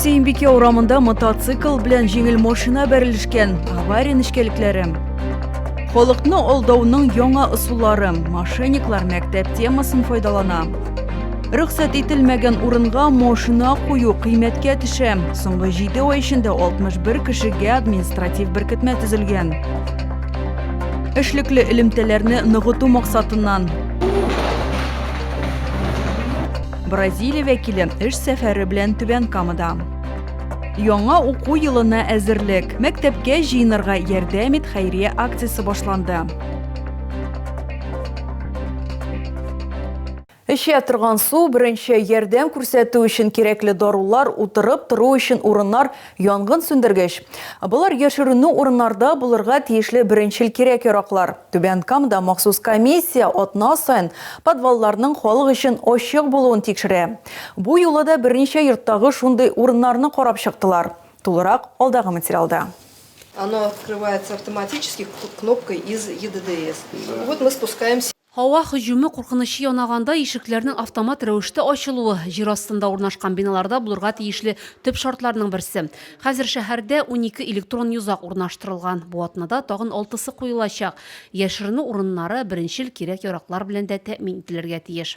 Сеймбике урамында мотоцикл белән җиңел машина бәрелешкән авария нечкәлекләре. Халыкны алдауның яңа ысуллары, мошенниклар мәктәп темасын файдалана. Рөхсәт ителмәгән урынга машина кую кыйммәткә төшә. Соңгы 7 ай эчендә 61 кешегә административ беркетмә төзелгән. Эшлекле элемтәләрне ныгыту максатыннан Бразилия вәкиле эш сәфәре белән Түбән Камада. Яңа уку елына әзерлек. Мәктәпкә җыенырга ярдәм ит хәйрия акциясе башланды. Эчә торган су, беренче ярдәм күрсәтү өчен кирәкле дарулар, утырып тору өчен урыннар, янгын сүндергеч. Болар яшеренү урыннарда булырга тиешле беренчел кирәк-яраклар. Түбән Камада махсус комиссия атна саен подвалларның халык өчен ачык булуын тикшерә. Бу юлы да берничә йорттагы шундый урыннарны карап чыктылар. Тулырак алдагы материалда. Оно открывается автоматически кнопкой из EDDS. Вот мы спускаемся. Һава һөҗүме куркынычы янаганда ишекләрнең автомат рәвештә ачылуы, җир астында урнашкан биналарда булырга тиешле төп шартларның берсе. Хәзер шәһәрдә унике электрон йозак урнаштырылган, бу атнада тагын алтысы куелачак. Яшеренү урыннары беренчел кирәк-яраклар белән дә тәэмин ителергә тиеш.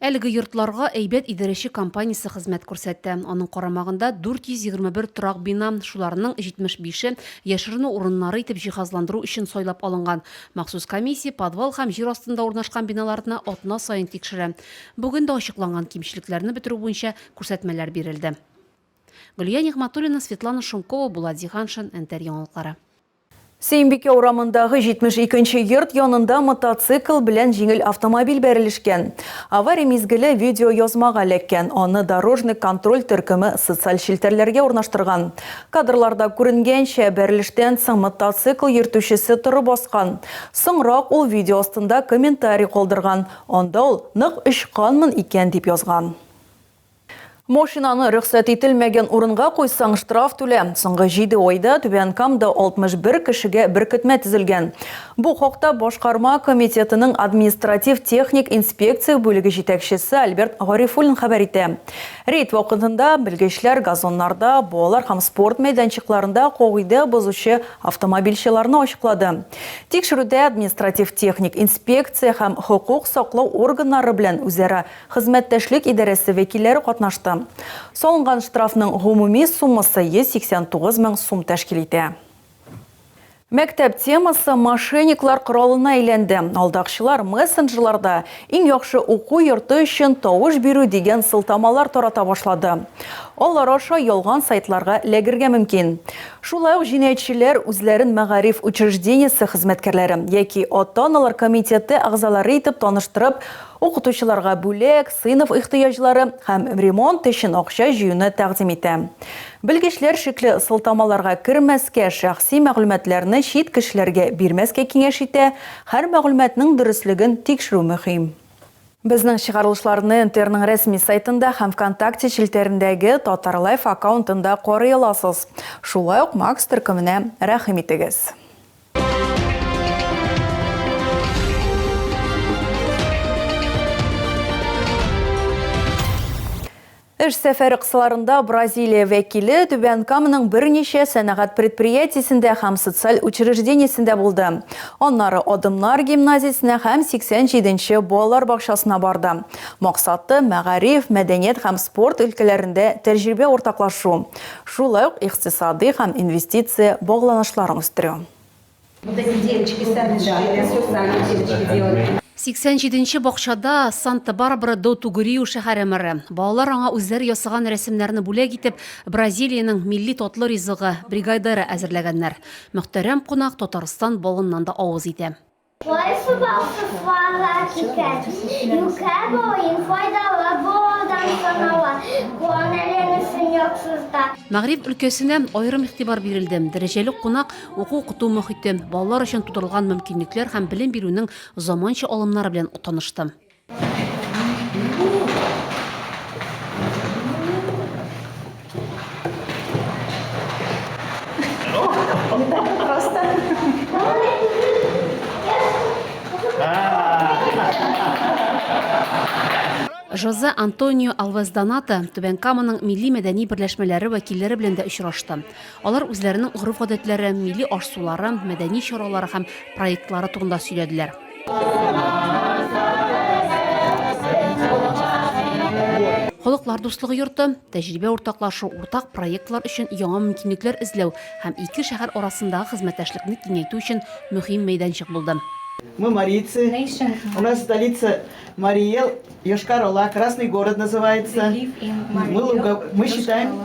Әлеге йортларга әйбәт идарәче компаниясе хезмәт күрсәтә. Аның карамагында 421 торак бина, шуларның 75-е яшеренү урыннары итеп җиһазландыру өчен сайлап алынган. Махсус комиссия подвал һәм җир астында урнашкан биналарны атна саен тикшерә. Бүген дә ачыкланган кимчелекләрне бетерү буенча күрсәтмәләр бирелде. Гөлия Нигъмәтуллина, Светлана Шумкова, Булат Зиһаншин, Нтр яңалыклары. Сөембикә урамындагы 72 нче йорт янында мотоцикл белән җиңел автомобиль бәрелешкән. Авария мизгеле видеоязмага эләккән, аны дорожный контроль төркеме социаль челтәрләргә урнаштырган. Кадрларда күренгәнчә, бәрелештән соң мотоцикл йөртүчесе торып баскан. Соңрак ул видео астында комментарий калдырган, анда ул нык очканмын икән дип язган. Машинаны рөхсәт ителмәгән урынга куйсаң, штраф түлә. Соңгы җиде айда Түбән Камда 61 кешегә беркетмә төзелгән. Бу хакта башкарма комитетының административ-техник инспекция бүлеге җитәкчесе Альберт Гарифуллин хәбәр итә. Рейд вакытында белгечләр газоннарда, балалар һәм спорт мәйданчыкларында кагыйдә бозучы автомобильчеларны ачыклады. Тикшерүдә административ-техник инспекция һәм хокук саклау органнары белән үзара Хезмәттәшлек идарәсе вәкилләре катнашты. Салынган штрафның гомуми суммасы 189 мең сум тәшкил итә. Мәктәп темасы мошенниклар коралына әйләнде. Алдакчылар мессенджерларда иң яхшы уку йорты өчен тавыш бирү дигән сылтамалар тарата башлады. Алар аша ялган сайтларга эләгергә мөмкин. Шулай ук җинаятьчеләр үзләрен мәгариф учреждениесе хезмәткәрләре яки ата-аналар комитеты әгъзалары итеп таныштырып, укытучыларга бүләк, сыйныф ихтыяҗлары һәм ремонт өчен акча җыюны тәкъдим итә. Белгечләр шикле сылтамаларга кермәскә, шәхси мәгълүматларны чит кешеләргә бирмәскә киңәш итә, һәр мәгълүматның дөреслеген тикшерү мөһим. Безнең чыгарылышларны НТРның рәсми сайтында һәм Вконтакте челтәрендәге Татарлайф аккаунтында карый аласыз. Шулай ук Макс төркеменә рәхим итегез. Эш сәфәре кысаларында Бразилия вәкиле Түбән Каманың берничә сәнәгать предприятиесендә һәм социаль учреждениесендә булды. Аннары Адымнар гимназиясенә һәм 87-нче балалар бакчасына барды. Максаты мәгариф, мәдәният һәм спорт өлкәләрендә тәҗрибә уртаклашу. Шулай ук икътисадый һәм инвестиция багланышларын үстерү. 87 нче бакчада Санта-Барбара до Тугуриу шәһәре мэры. Балалар аңа үзләре ясаган рәсемнәрне бүләк итеп, Бразилиянең милли татлы ризыгы, бригайдера әзерләгәннәр. Мөхтәрәм кунак Татарстан балыннан да авыз итә. Кайсыба кысларга киткән, юкә буын файдалы булудан санала, гуанолин өчен яхшыста. Мәгъриф өлкәсенә аерым игътибар бирелде. Дәрәҗәле кунак уку-укыту мохите, балалар өчен тудырылган мөмкинлекләр һәм белем бирүнең заманча алымнары белән танышты. Жозе Антонио Алвес Доната Түбән Каманың милли-мәдәни берләшмәләре вәкилләре белән дә очрашты. Алар үзләренең гореф-гадәтләре, милли аш-сулары, мәдәни чаралары һәм проектлары турында сөйләделәр. Халыклар дуслыгы йорты, тәҗрибә уртаклашу, уртак проектлар өчен яңа мөмкинлекләр эзләү һәм ике шәһәр арасындагы хезмәттәшлекне киңәйтү өчен мөһим мәйданчык булды. Мы марийцы. У нас столица Марий Эл, Йошкар-Ола, Красный город называется. Мы луга, мы считаем,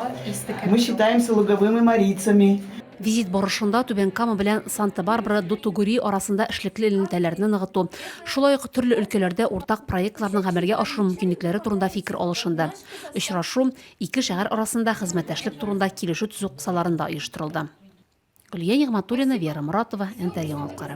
мы считаемся луговыми марийцами. Визит барышында Түбән Кама белән Санта-Барбара до Тугури арасында эшлекле элемтәләрне ныгыту, шулай ук төрле өлкәләрдә уртак проектларның гамәлгә ашыру мөмкинлекләре турында фикер алышынды. Очрашу ике шәһәр арасында хезмәттәшлек турында килешү төзү кысаларында оештырылды. Гөлия Нигъмәтуллина, Вера Моратова, Нтр яңалыклары.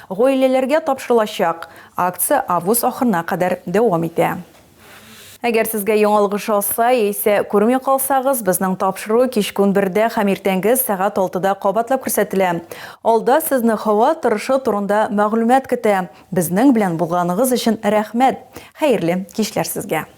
Гаиләләргә тапшырылачак акция август ахырына кадәр дәвам итә. Әгәр сезгә яңалык ошаса яисә күрми калсагыз, безнең тапшыру кичкүн бердә һәм иртәнге сәгать алтыда кабатлап күрсәтелә. Алда сезне һава торышы турында мәгълүмат көтә. Безнең белән булганыгыз өчен рәхмәт! Хәерле кичләр сезгә!